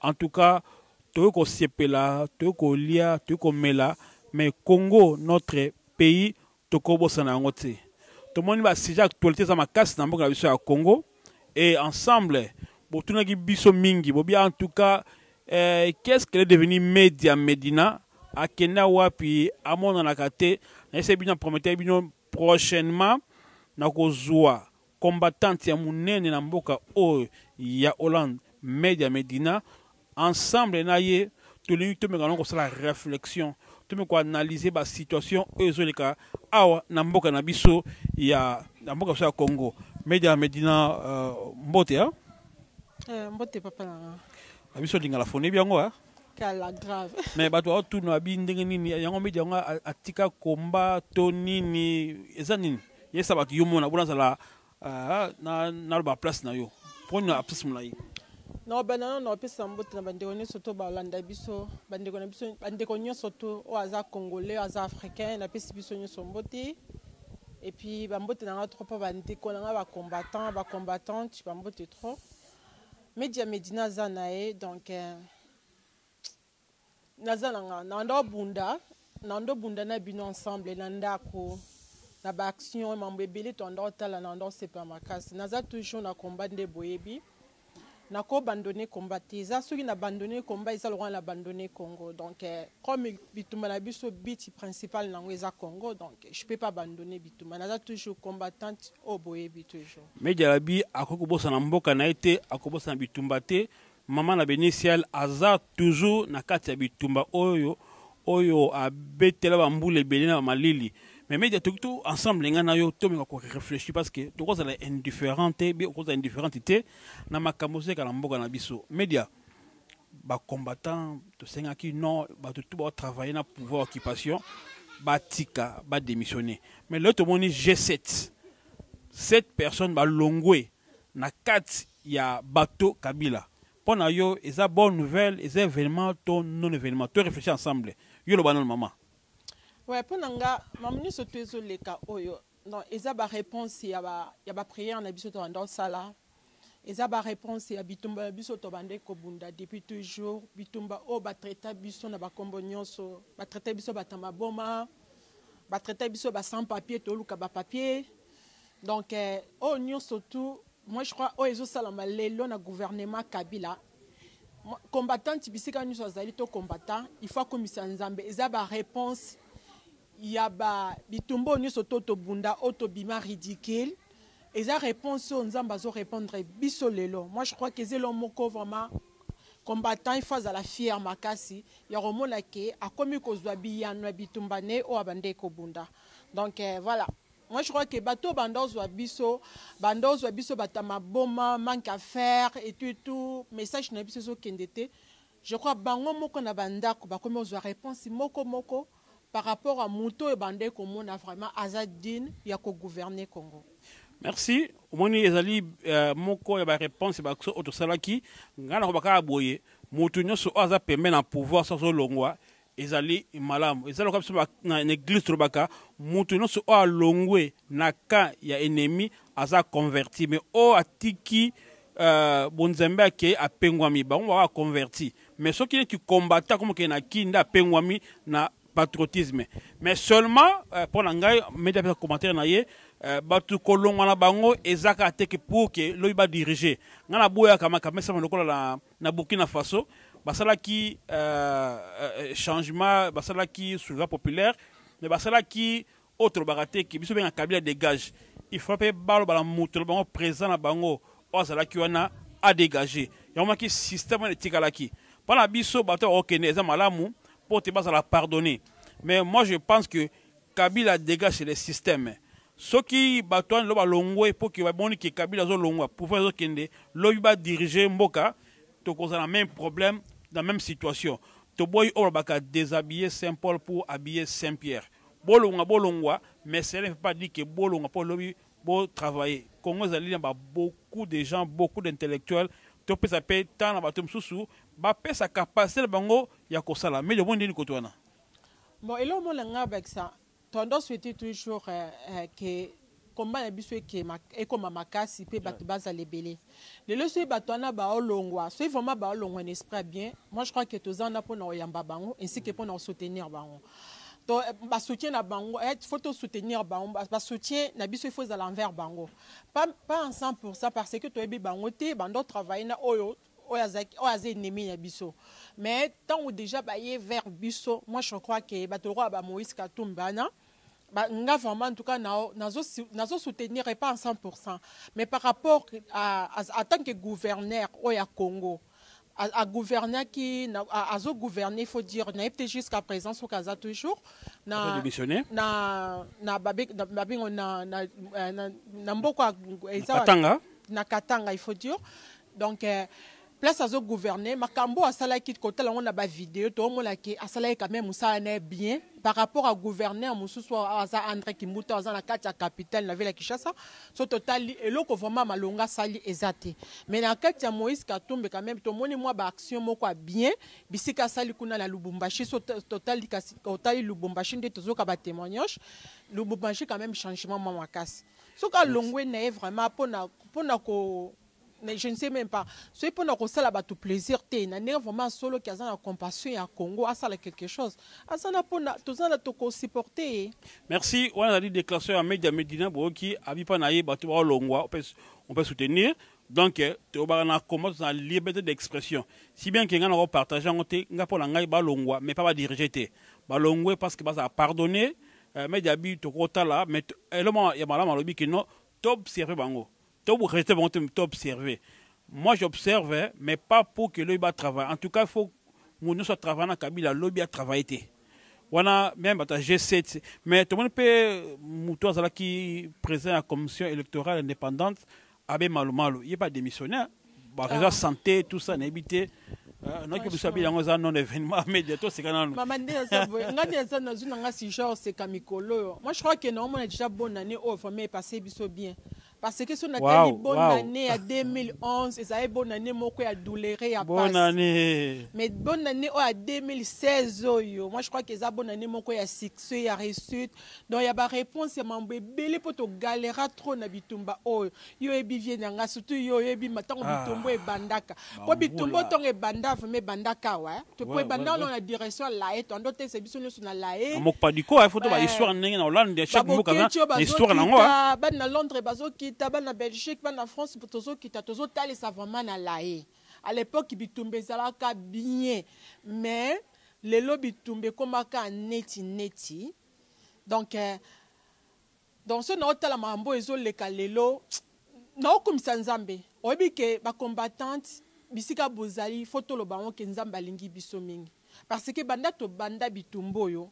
En tout cas, toyo ko sepela, toyo ko lia, toyo ko mela, mais Congo notre pays toko bosana yango te. Tomoni ba sujet actualité za makasi na mboka na biso ya Congo et ensemble botunaki biso mingi bobi en tout cas euh, qu'est-ce qu'elle est devenue Media Medina akenda wapi amonanaka te nayese bino prometaki bino prochainement nakozwa combattante ya munene na mboka oyo ya Hollande Media Medina ensemble na ye tolingi tomeka na kosala réflexion tomeka koanalyse basituation oyo ezoleka awa na mboka na biso ya na mboka biso ya Congo Media Medina uh, mbote ya eh, mbote papa na biso lingala foni byango kala grave mais bato aotuna abi ndenge nini yango midi yango atika komba to nini eza nini yesa bato yo mona bona azala ah, naloba place na yo mpo na place molai na obanda nano na opesa mbote na bandeko nyonso to balanda biso bandeko na biso bandeko nyonso to oyo aza congolais aza africain napesi biso nyonso mbote epuis bambote na nga trop mpo bandeko na nga bacombattant bacombattante bambote trop Media Medina aza na ye donc eh, naza na nga na ndo bunda na ndo bunda na bino ensemble na ndako na ba action mambo ebele to ndo tala na ndo sepa makasi naza toujours na combat nde boyebi na ko abandonner combat te eza soki na abandonner combat eza lokola na abandonner Congo donc eh, comme bitumba na biso but principal nango eza Congo donc Je peux pas abandonner bitumba. Naza toujours combattante au boyebi toujours. Mais Jalabi akoki kobosana mboka na ye te, akobosana bitumba te. Mama na Benisiel aza toujours na kati ya bitumba oyo oyo abetela bambula ebele na bamalili mais media toki to ensemble ngai na yo tomeka korefléchir parce que tokozala indifférent te bi okozala indifférente te na makambo ozeka na mboka na biso media ba combattants tosengaki non bato tout baotravaille na pouvoir occupation batika badémissionne mais lelo tomoni g7 7 personnes balongwe na kati ya bato kabila mpo na yo eza bonne nouvelle eza événement to non événement to réfléchir ensemble yo loba nano mama ouais mpo na nga mamu nyonso to ezoleka oyo Donc, eza ba réponse ya ba ya ba prière na biso tobanda osala eza ba réponse ya bitumba ya biso tobanda kobunda depuis toujours bitumba oyo batraita biso na bakombo nyonso batraita biso bata maboma batraita biso ba sans papier toluka ba papier donc eh, oyo nyonso tout moi je crois oyo ezosalama lelo na gouvernement kabila Mo- combattante bisika nyonso azali to combattant il faut akomisa nzambe eza ba réponse ya ba bitumba oyo nyonso to tobunda oyo tobima ridicule eza réponse oyo nzambe azo répondre biso lelo moi je crois que zelo moko vraiment combattant il faut azala fier makasi ya komona ke akomi kozwa biyano ya bitumba ne oyo abandai kobunda donc eh, voilà moi je crois que bato banda ozwa biso banda ozwa biso bato ya maboma manque à faire et tout et tout message na biso ezokende te Je crois bango moko na ba ndako bakomi kozwa reponse moko moko par rapport à moto oyo bande komona vraiment aza digne ya ko gouverner Congo. Merci. Omoni ezali euh, moko ya ba reponse ba oyo tosalaki ngai nakoba kaka boye moto nyonso oyo aza pembe na pouvoir soki azolongwa ezali malamu eza lokola biso na eglise tolobaka moto nyonso oyo alongwe na camp ya ennemi aza converti mais oyo atiki uh, bonzambe akei apengwami bango baka aconverti mais soki neti combatta akomi okei na kin nde apengwami na patriotisme mais seulement euh, mpo na ngai medi apesa commentaire na ye euh, bato kolongwa na bango eza kaka te ke pour ke lobi badirige ngai naboyaka makambo esalama lokola na na Burkina Faso basalaki euh, euh, changement basalaki soulèvement populaire mais basalaki oyo tolobaka te ke biso benga kabila dégage il faut mpe baloba na moto na bango présent na bango oyo azalaki wana adégage yango maki système wana etikalaki mpo na biso bato bakokende eza malamu mpo te bazala pardonner mais moi je pense que kabila dégage le système Soki batu wana lelo balongwe mpo ke bamoni ke Kabila azolongwa pouvoir ezokende lobi ba diriger mboka tokozala na meme problème na meme situation toboyi oyo balobaka deshabiller Saint Paul pour habiller Saint Pierre bolonga bolongwa mais cela ne veut pas dire ke bolongwa mpo lobi bo travailler Congo ezali na ba beaucoup de gens beaucoup d'intellectuels topesa mpe temps na bato mosusu bapesa capacité na bango ya kosala mais omoni nde nini koto wana Bon, eloko mona nga bakisa Tondo souhaite toujours euh, euh, que combat na biso ekema ekoma makasi mpe bato bazala ebele lelo soki bato wana baolongwa soki vraiment baolongwa na esprit ya bien moi je crois que toza wana mpo na koyamba bango ainsi que mpo na kosoutenir bango to eh, basoutien na bango eh, faut tosoutenir bango basoutien na biso il faut ezala envers bango pas, pas en 100 parce que toyebi bango te bando travaille na oyo oyo aza ennemi na biso mais ntango déjà baye vers biso moi je crois ke bato lokola ba moïse katumbi wana nga vraiment en tout cas nazo soutenir pas en 100% mais par rapport à, à, à tant que gouverneur oyo ya congo à gouverner qui à, à gouverner faut dire na été jusqu'à présent ce kaza toujours na na na babé na babé na na na, na, na mboko na Katanga na Katanga il faut dire donc euh, place azo gouverner makambo asalaki kotala yango na bavideo toomona ke asalaki quand même mosala na ye bien par rapport à gouverneur mosusu aza andre kimbuta aza na kati ya capitale na ville ya kinshasa so totali eloko vraiment malonga asali eza te mais na kati ya moïse katumbe quand même tomoni mwa baaction moko ya bien bisika asali kuna na lubumbashi so totali kasi otali lubumbashi nde tozoka batémoignage lubumbashi quand même changement mwa makasi soki alongwe na ye vraiment mpona mpona ko mais je ne sais même pas soki mpo na kosala bato plaisir te na ndenge vraiment asoloki aza na compassion ya congo asala quelque chose aza na mpo na toza na tokosupporte ye merci wana ezali déclaration ya media medina boyoki abipa na ye bato baolongwa on peut soutenir donc eh, tobaka na combat toza na liberté d'expression si bien ke ngai nako partage yango te ngai mpo na ngai balongwa mais pas badirige te balongwe parce que bazala pardonne eh, media bi tokotala mais eloma ya malamu alobi kino toobserve bango To regrette bango te to observer. Moi j'observe mais pas pour que lobi ba travailler. En tout cas il faut mutu nyonso atravaille na kabila lobi atravaille te wana meme bato ya g7 mais tomoni mpe moto azalaki président ya commission électorale indépendante abe malumalu ye mpe adémissionnaire bato eza santé tout ça nayebi te euh, noki biso abili yango eza non événement media toseka nanu mama nde naza boye ngai nde naza nazwi na ngai sujet oseka mikolo oyo moi je crois que naomona déjà bonne année oyo oh, vraiment epasse biso bien parce que soki natali wow, bonne wow. année ya 2011 ezali bonne année moko ya doulere ya bonne année mais bonne année oyo ya 2016 oyo moi je crois que eza bonne année moko ya succès ya réussite donc ya baréponse ya mambo ebele mpo togalera trop na bitumba oyo yo oyebi vie na nga surtout yo oyebi ntango ah. bitumbu ebandaka mpo bitumbu ntongo ebanda vraimen ebandaka awa eh. mpo ebanda ono na direction ya lae toando otesa biso nyonso na lae mokpadiko aye foto bahistoire ndenge na hollande chaque mboka na histoire nango ah. bana na londres bazokita bana na belgique bana na france tozokita tozotalisa vraiment na lae à l'époque bitumba ezalaka bien mais lelo bitumba ekomaka neti neti donc eh, Donc soki nao tala makambo oyo ezo leka lelo nao kumisa Nzambe. Oyebi ke ba combattante bisika bozali faut toloba yango ke Nzambe alingi biso mingi. Parce que banda to banda bitumba oyo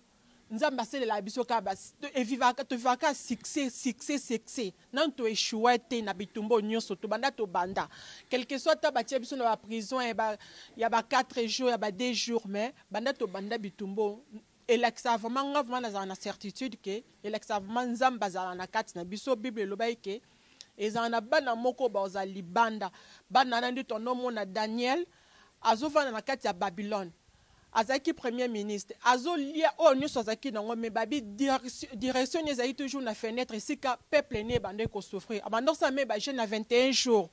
Nzambe asalelaka biso kaka ba e vivaka to vivaka kaka succès succès succès. Nanu to echoua te na bitumba oyo nionso to banda to banda. Quelque soit ata batia biso na ba prison ya ba ya ba 4 jours ya ba 2 jours mais banda to banda bitumba oyo elakisaka vraiment nga vraiment nazala na certitude ke elakisaka vraiment nzambe azala na kati na biso bible elobaki ke ezala na bana moko bazala libanda bana wana nde tonomona daniel azofanda na kati ya babylone azalaki premier ministre azolia oyo nyonso azalaki nango me babi direction ne ezalaki toujours na fenêtre esika peuple ne ebandaki kosouffrir abanda kosala me bajeune na 21 jours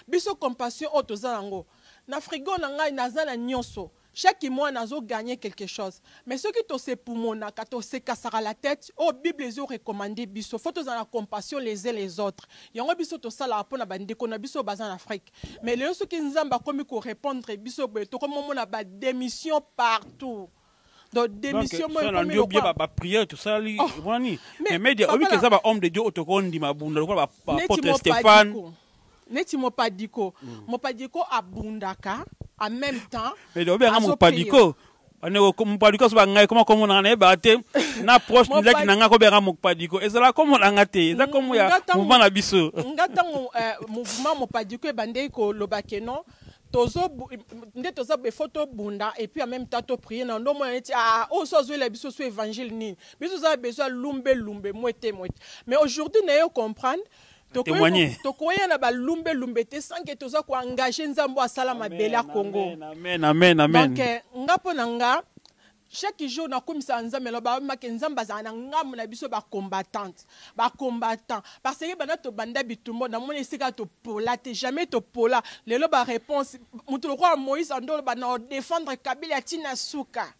biso compassion oyo toza yango na frigo na ngai naza na nyonso Chaque mois nazo gagner quelque chose mais soki to se pumonaka to se kasaka la tete oyo bible ezo recommande biso faut tozala na compassion les uns les autres yango biso tosalaka pona ba ndeko na biso baza na Afrique mais lelo soki nzambe akomi ko repondre biso boye tokomi omona ba demission partout donc demission moi na ndio bien ba prière tout ça li wani mais media obi keza ba homme de Dieu otoko ndima bunda lokola ba apôtre Stéphane neti mopadiko mm. mopadiko abundaka en même temps mais donc bien mopadiko bandeko mopadiko aso bangai koma komonaka na yebaka te na proche mizaki na ngai kobengaka mopadiko ezalaka komona nga te eza komo ya mouvement na biso nga ntango eh, mouvement mopadiko ebandeki koloba keno tozo nde toza befo tobunda epuis en même temps toprie na ndo omona neti aa oyo so azwela biso so évangile nini biso toza besoin lumbe lumbe mwete mwete mais aujourd'hui naye comprendre Témoigner. tokoya na balumbe lumbe te sans que toza ko engage nzambe oyo asala mabele ya congo Amen, amen, amen. donc eh, nga mpo na nga chaque jour nakomisaka nzambe na babamake nzambe azala na ngambo na biso bacombattante bacombattant parce que banda tobanda bitumbo namoni esika topola te jamais topola lelo baréponse moto lokola moïse andoloba na odefendre kabila ntina suka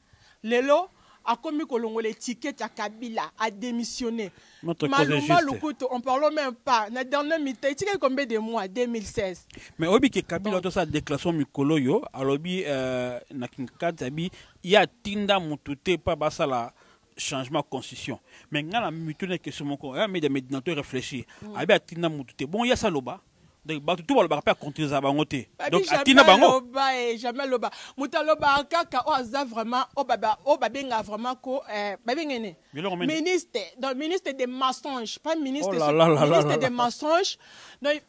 Lelo akomi kolongola etiquette ya kabila a demissionne malu malu kutu on parle même pas na dernier mita etikaki combien de mois 2016 mais oyebi ke kabila tosala déclaration mikolo oyo alobi euh, na kinkati abi ye atinda motu te mpa basala changement ya constitution mais ngai na mituna question moko ya meda medinato réfléchir mm. abi atinda motu te bon ye asaloba donc bato tu balobaka mpe acontresa bango te donc atina bango eh, jamais aloba moto alobaka kaka oyo aza vraiment oyo babenga vraiment ko eh, babenga ene ministre donc ministre de mensonge pas ministre oh là là ministre de mensonge donc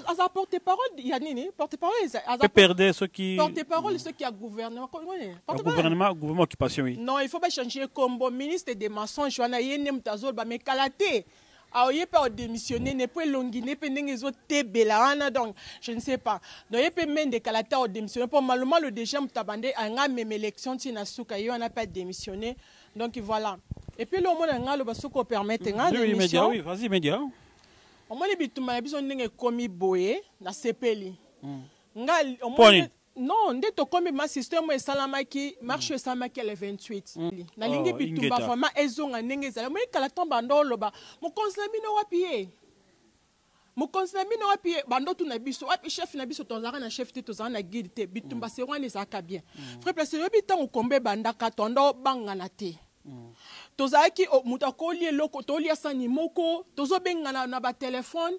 aza porte parole ya nini porte parole aza perde soki porte parole soki ya gouvernement gouvernement gouvernement occupation oui non il faut bachanger kombo ministre de mensonge wana ye nde moto azoloba mais kala te aoye mpe aodemissionne ne mpo elongi ne mpe ndenge ezotebela wana donc je ne sais pas donc ye mpe mende kala te aodemissionne mpo malomalo déjà moto abande anga meme élection ntina na suka ye wana mpe ademissionne donc voilà et puis eloo omona ngai aloba soki opermettre nga demission omoni bitumba na biso ndenge ekomi boye nasepeli hmm. ngai Non, nde tokomi ma système esalamaki, marche mm. esalamaki le 28. Mm. Nalingi oh, bitumba vraiment ezonga ndenge ezali. Moi kala ton bando loba, mokonzi na bino wapi ye? mokonzi na bino wapi bandotu na biso wapi chef na biso tozalaka na chef te tozala na guide te bitumba mm. se wana ezalaka bien mm. vrai place oyebi ntango kombe ebandaka tonda obangana te mm. tozalaki oh, moto akoli eloko tolia sani moko tozobengana na batelefone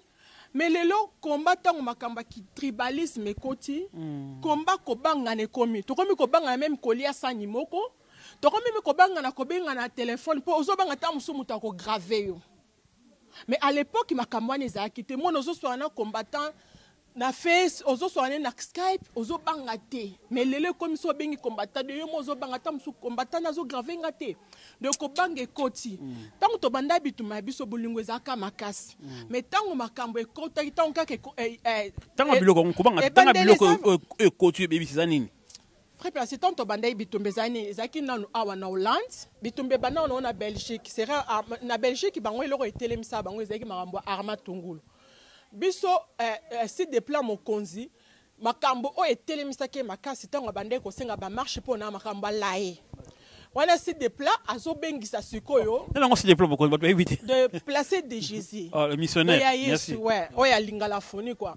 Mais lelo combat tango makambo ya tribalisme ekoti mm. combat kobangana ekomi tokomi kobangana meme kolia sani moko tokomi meme kobangana kobengana telefone mpo ozobanga ntango mosusu moto akograve yo mais à l'époque makambo wana ezalaki te mona ozoswana na combattant na face ozoswana ne na skype ozobanga te mais lelo ekomisi obengi combattant de yo mo ozobanga ata mosusu combattant azograve nga te donc kobanga ekoti ntango mm. tobanda bituma ya biso bolingo ezalaka makasi mm. mais ntango makambo ekotaki ntango kaka ntango eh, eh, eh, biloko yango kobanga ntango biloko oyo ekoti ebebisi eza nini très place ntango tobandaki bitumba ezali nini ezalaki nanu awa na hollande bitumba ebanda wana na belgique sera ah, na belgique bango eloko etelemisa bango ezalaki makambo ya arma tungulu biso site de plan mokonzi makambo oyo etelemisaki ye makasi ntango abandaki kosenga bamarche mpo na makambo alaye wana si de plat azobengisa sikoyo nango si de plat bokozi bato bayebi te de place de jésus oh, le missionnaire ya yesu ouais oyo alinga la fonie quoi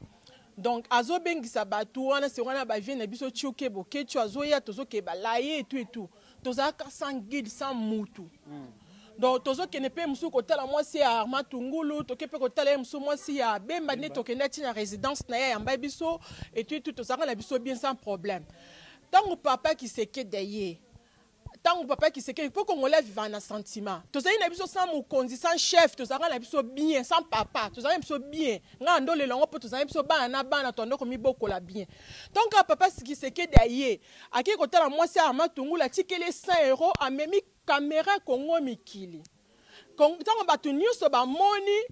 donc azobengisa bato wana se wana bavie na biso tioke boketio azoya tozokeba laye etu etu tozalaka sans guide sans mutu mm. donc tozokende mpe mosusu kotala mwasi ya arma tungulu toke mpe kotala ye mosusu mwasi ya bemba nde tokende ati na résidence na ye ayamba biso etui tu tozalaka na biso bien sans problème ntango papa kisekede ye ntango papa kisekede mpo kongola avivaka na sentiment tozali na biso sans mokonzi sans chef tozalaka na biso bien sans papa tozalaka na biso bien ngai andolela yango mpo tozali biso bana na bana toando komibokola bien ntango kaka papa kisekede aye Akei kotala mwasi ya Matungulu atikeli ye 100 euro amemi kamera Congo mikili. Ntango bato nyonso bamoni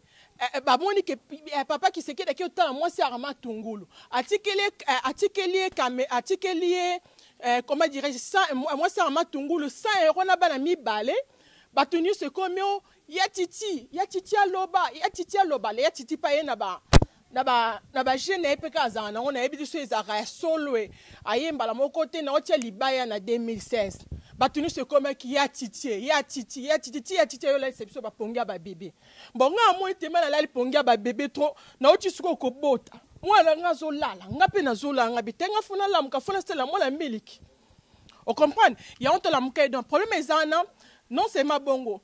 Eh, eh, bamoni ke eh, papa kisekedi ake otala mwasi ya rama tungulu atikeli ye atikeli ye kame atikeli ye comment dirais-je mwasi ya rama tungulu 100 euro na bana mibale bato nyonso ekomi o oh, ya titi ya titi aloba ya titi aloba le ya titi pa ye na ba na ba na ba jeune naye peka azala nango nayebi liso ezalaka ya solo e aye mbala moko te na otia libaya na 2016 bato nyonso ekomaki ya titie ya titi ya titi ti ya titi ayolalisa biso bapongi ya babebe bon nga amoni te mala alali pongi ya babebe trop nauti sikoyo kobota mwana nga azolala nga mpe nazolala nga bite nga fona lamuka fona sala mwana miliki ocomprendre yango tolamuka ye donc problème eza wana non seulement bongo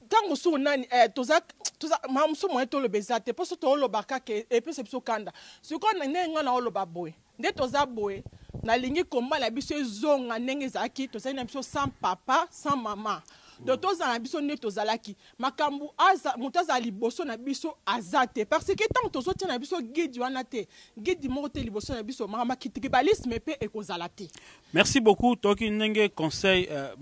ntango mosusu nani eh, toza toza ma mosusu moye toloba eza te mposo tooloba kaka e, epesa biso kanda sikoyo ndenge ngai naoloba boye nde toza boye nalingi komba na biso ezonga ndenge ezalaki tozali na biso sans papa sans mama donc tozala na biso nde tozalaki makambo moto azala liboso na biso aza te parce que ntango tozotia na biso guide wana te guide moko te liboso na biso makambo ya kitribalisme mpe ekozala te Merci beaucoup toki ndenge conseil euh,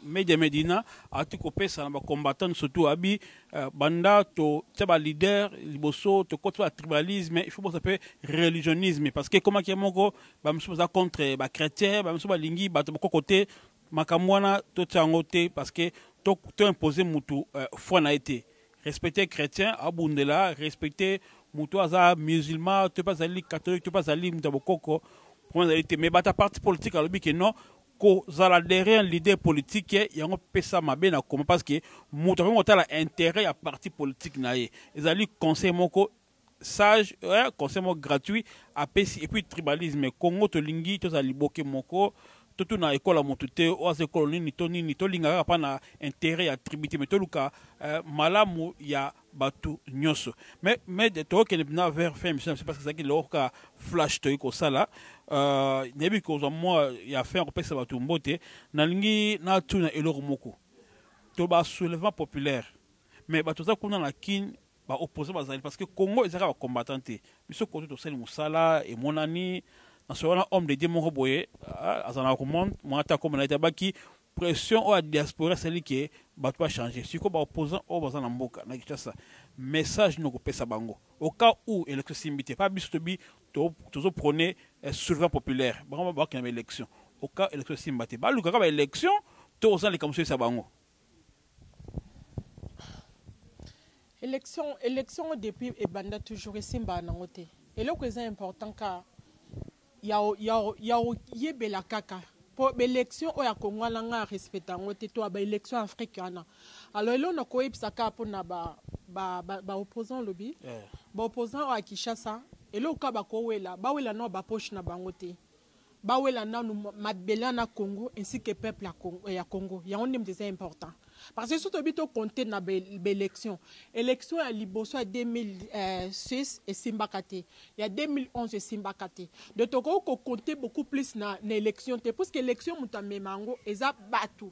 Media Medina ati kopesa na ba combattants surtout abi euh, banda to tia ba leader liboso to koti ba tribalisme il faut bosa pe religionisme parce que koma kia moko ba misusu baza contre ba chrétien ba misusu balingi bato bako kote makambo wana totia yango te parce que to, to impose mutu euh, foi na ye te respecter chrétien abundela respecter moto aza musulman to mpe azali catholique to mpe azali moto ya bokoko problème ezali te mais bato ya parti politique alobi ke non kozala derrière leader politique yango pesa mabe na koma parce que moto akoki kotala intérêt ya parti politique na ye ezali conseil moko sage eh, conseil moko gratuit apesi epuis tribalisme congo tolingi tozala liboke moko totuna ekola motu te oyo aza ekolo nini to nini tolinga kaka mpa na interet ya tribu te me toluka eh, malamu ya bato nyonso me me tokokende mpena vers fin émission na biso parce que ezalaki loko kaka flash toyei kosala uh, nayebi kozwa mwa ya fin ya kopesa bato mbote nalingi natuna eloko moko to ba soulèvement populaire me bato oza kuna na kine ba opposants bazali parce que Congo ezaka ba combattants te biso koto tosali musala emonani na solo wana homme de Dieu moko boye ah, azana ko monde mwana ta komona ete abaki pression oyo ya diaspora esali ke bato bachange sikoyo baopposant oyo baza na mboka na kinshasa message nini okopesa bango au cas où élection esimbi te mpa biso tobi tozoprone eh, souverain populaire bango bakenda baélection au cas élection esimba te balukaka baélection to oza na likambo soyisa bango Election, election depuis ebanda toujours esimba nango te. Eloko eza important ka ya ya ya yebela kaka po election oyo akongo wana nga respecta yango te to ba election afrique wana alors eloko na koyebisa kaka mpo na ba ba ba, ba opposant lobi yeah. ba opposant oyo ya kinshasa eloko kaka bakowela bawela nao bapoche na bango te bawela nanu mabele na Congo ainsi que peuple ya Congo, ya Congo. yango nde eza important parce que soki toyebi tocompte na baélection élection ya liboso ya 2006 esimbaka te ya 2011 esimbaka te donc tokoki kocompte beaucoup plus na, na élection te puisque élection moto amema yango eza bato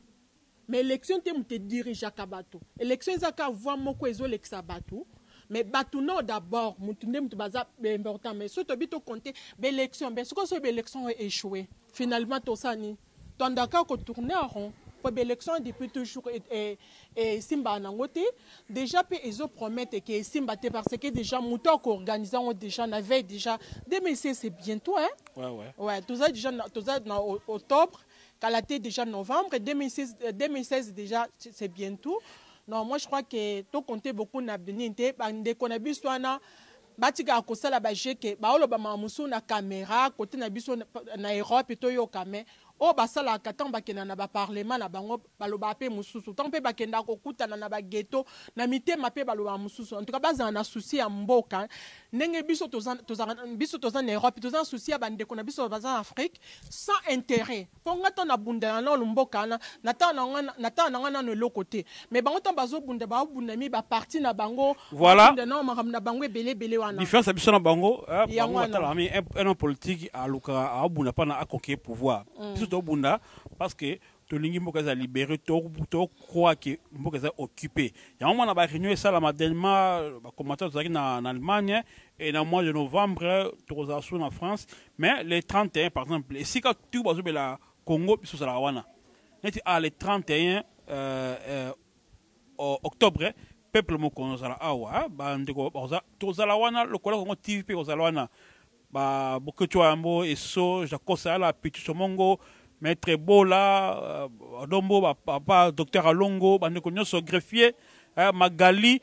Mais election te moto edirigeaka bato. Election eza ka voix moko ezolekisa bato. Mais bato nao d'abord moto nde moto baza important. Mais soki tobi to compter ba election be soki oso ba election o echoue finalement tosala nini? Toanda kaka ko tourner en rond mpo ba election depuis toujours e, e, e, esimbaka nango te déjà mpe ezo promettre ke esimba te parce que déjà moto ako organiser yango déjà na veille déjà 2016 c'est bientôt hein? ouais, ouais. ouais toza déjà toza na octobre Kala te déjà novembre 2016, 2016 euh, déjà c'est bientôt. Non, moi je crois que to compter beaucoup na Benin te bande kona biso wana batika kosala ba jeu que ba oloba mamusu na caméra côté na biso na Europe to yo kame oh basalaka tant bakena na ba parlement na bango balobaka pe mususu tango pe bakendaka kokutana na ba ghetto na mitema pe balobaka mususu en tout cas bazala na souci ya mboka ndenge biso toza toza biso toza na Europe toza na souci ya bandeko na biso baza na Afrique sans intérêt po nga tan nabundela nano mboka wana na tan na nga na tan na nga nano eloko te mais bango tan bazobunda baobunda mi ba parti na bango voilà nano makambo na bango ebele ebele wana différence ya biso na bango eh, bango batala mi un homme politique alukaka aobunda pa na akoke pouvoir mm. biso tobunda parce que tolingi mboka eza libere tocroi ke mboka eza occupe yango mwana baréunion esalama delma bacommata tozalaki na allemagne et na mois de novembre tokozala su na france mais le 31 par exemple esika tu bazobela congo biso ozalaka wana neti a ah, le 31 euh, euh, octobre peuple mokonzi ozala awa ah, bandeko tozala wana lokola kongo tv mpe kozala wana ba boketshu wa yambo eso jakosa yala pichucho mongo maître bola euh, dombo ba papa docteur alongo bandeko nyonso greffier eh, magali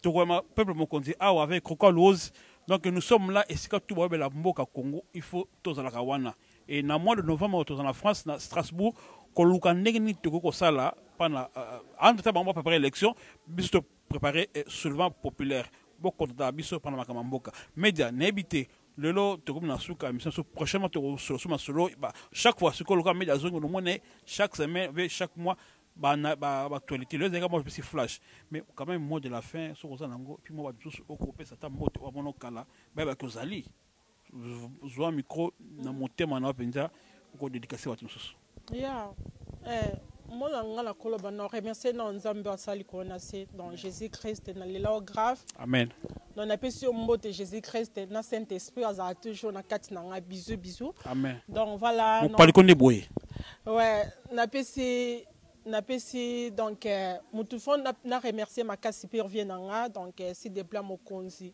tokoyama peuple mokonzi awa avec croka luose donc nous sommes là esika tu bayobela mboka congo il faut tozalaka wana e na mois de novembre oyo tozala na france na strasbourg koluka ndenge nini tokoki kosala mpana euh, entre ta bango bapepare élection biso prepare eh, soulevant populaire bokontata biso mpona makambo ya mboka media nayebi te lelo tokomi na suka ya mission so prochainement tokosolosu masolo chaque fois sikoyo lokola media azongi nomona chaque semaine ve chaque mois baactualité lelo ezalika mwa bipesi flash mais quand même mot de la fin soki oza nango epuis mwa bato mosusu okopesa ata mbote oyo amono kala bayebaki ozali zwa micro na motema na yo mpenza okodedikase bato mosusu ya eh, mona nga na koloba na remercie na nzambe asali koo na se donc jésus christ na lela o grave amen donc napesi yo mbote jésus christ na saint esprit azala toujours na kati na ngai bizu bizu amen donc voilà mopaliko nde boye ouais napesi napesi donc euh, motu fo na remercie makasi mpe revie na nga donc euh, si depla mokonzi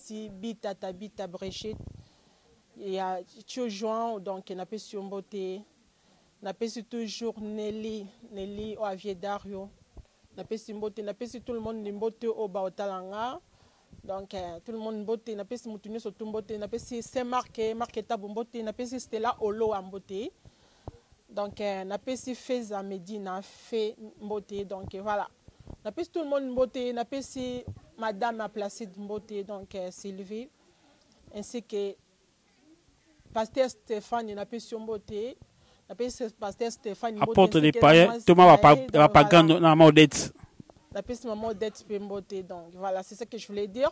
Merci Bita Tabita Brigitte ya Tio João donc na pesi yo mbote na pesi toujours Nelly Nelly o avier Dario na pesi mbote na pesi tout le monde ni mbote o ba otala nga donc eh, tout le monde mbote na pesi mutu nyoso tu mbote na pesi Saint Marc eh, Marc Tabu mbote na pesi Stella Oloa mbote donc eh, na pesi Feza Medina Fe mbote donc eh, voilà napesi tout le monde mbote napesi madame ma placide mbote donc euh, sylvie ainsi que pasteur stéphane napesi yo mbote napesi pasteur stéphane mbote, apôtre de paye toma bapagano na maodete napesi mama odete mpe mbote donc voilà c'est ça que je voulais dire